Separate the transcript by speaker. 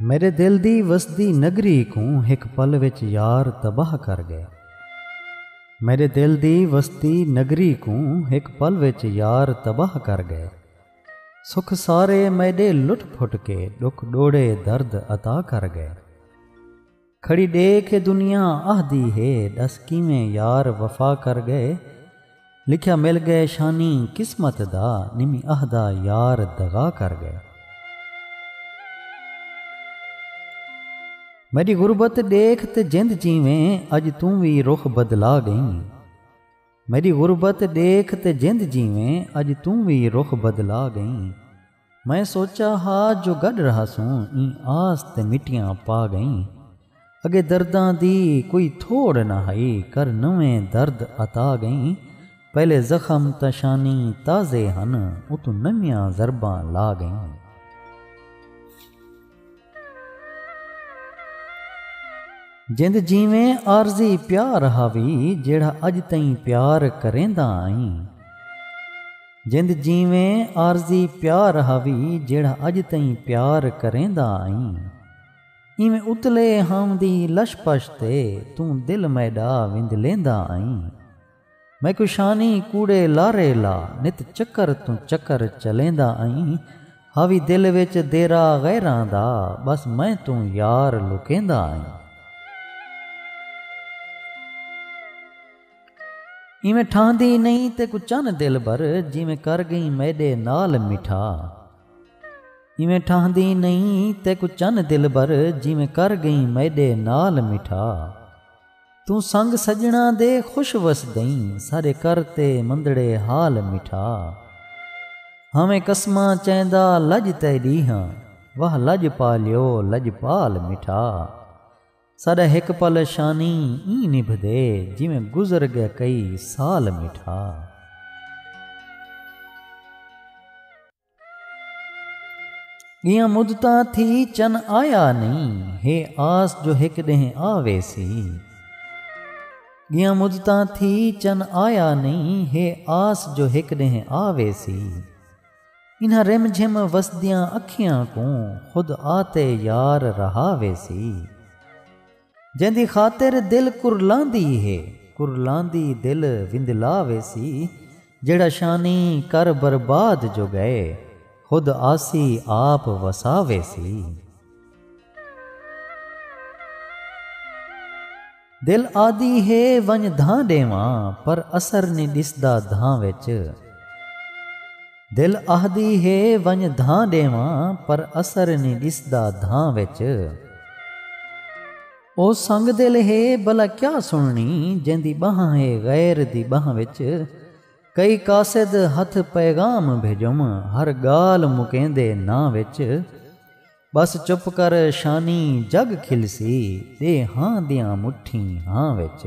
Speaker 1: میݙے دل دی وسدی نگری کوں ہک پل وچ یار تباہ کر ڳئے۔ میݙے دل دی وسدی نگری کوں ہک پل وچ یار تباہ کر ڳئے۔ سکھ سارے میݙے لٹ پھٹ کے ݙکھ ݙوڑے درد عطا کر ڳئے۔ کھڑی ݙیکھ اے دنیا آہدی ہے ݙس کیویں یار وفا کر ڳئے لکھیا مل ڳئے شانی قسمت دا نمی آہدا یار دغا کر ڳئے میݙی غربت ݙیکھ تے جند جیویں اڄ توں وی رخ بدلا ڳئیں میݙی غربت ݙیکھ تے جند جیویں اڄ توں وی رخ بدلا ڳئیں۔ میں سوچا ہا جو گڈ رہاسوں ایں آس تے مٹیاں پا گئیں اگے درداں دی کوئی تھوڑ نہ ہئی کر نویں درد عطا گئیں پہلے زخم تاں شانی تازے ہن اتوں نویاں ضرباں لا گئیں۔ جند جیویں عارضی پیار ہاوی جیڑھا اڄ تئیں پیار کریندا آئیں جند جیویں عارضی پیار ہاوی جیڑھا اڄ تئیں پیار کریندا آئیں ایویں اتلے ہاوندی لش پش تے توں دل میݙا وندلیندا آئیں۔ میں کوں شانی کوڑے لارے لا نت چکر توں چکر چلیندا ائیں ہاوی دل وچ دیرہ غیراں دا بس میں توں یار لکیندا ائیں۔ ایویں ٹھاہندی نئیں تیکوں چن دلبر جیویں کر گئیں میڈے نال مٹھا ایویں ٹھاہندی نئیں تیکوں چن دلبر جیویں کر گئیں میڈے نال مٹھا۔ توں سنگ سڄݨاں دے خوش وسدئیں سارے کر تے مندڑے حال مٹھا ہاویں قسماں چیندا لڄ تیݙی ہاں واہ لڄ پالیو لڄپال مٹھا ساݙا ہک پل شانی ایں نبھدے جیویں گزر ڳئے کئی سال مٹھا۔ ڳیاں مدتاں تھی چن آیا نئیں ہے آس جو ہک ݙینہہ آویسی ڳیاں مدتاں تھی چن آیا نئیں ہے آس جو ہک ݙینہہ آویسی انہاں رم جھم وسدیاں اکھیاں کوں خود آتے یار رہاویسی جیندی خاطر دل کرلاندی ہے۔ کرلاندی دل وندلا ویسی۔ جیڑھا شانی کر برباد جو گئے۔ خود آسی آپ وسا ویسی۔ دل آدی ہے ونج دھاں ڈیواں۔ پر اثر نی ڈسدا دھاں وچ۔ دل آہدی ہے ونڄ دھاں ݙیواں پر اثر نی ݙسدا دھاں وچ او سنگ دل ہے بھلا کیا سݨݨی جیندی ٻانہہ ہے غیر دی ٻانہہ وچ کئی قاصد ہتھ پیغام بھیڄم ہر ڳالھ مکیندے ناں وچ۔ ٻس چپ کر شانی جڳ کھلسی ݙے ہاں دیاں مٹھیں ہاں وچ۔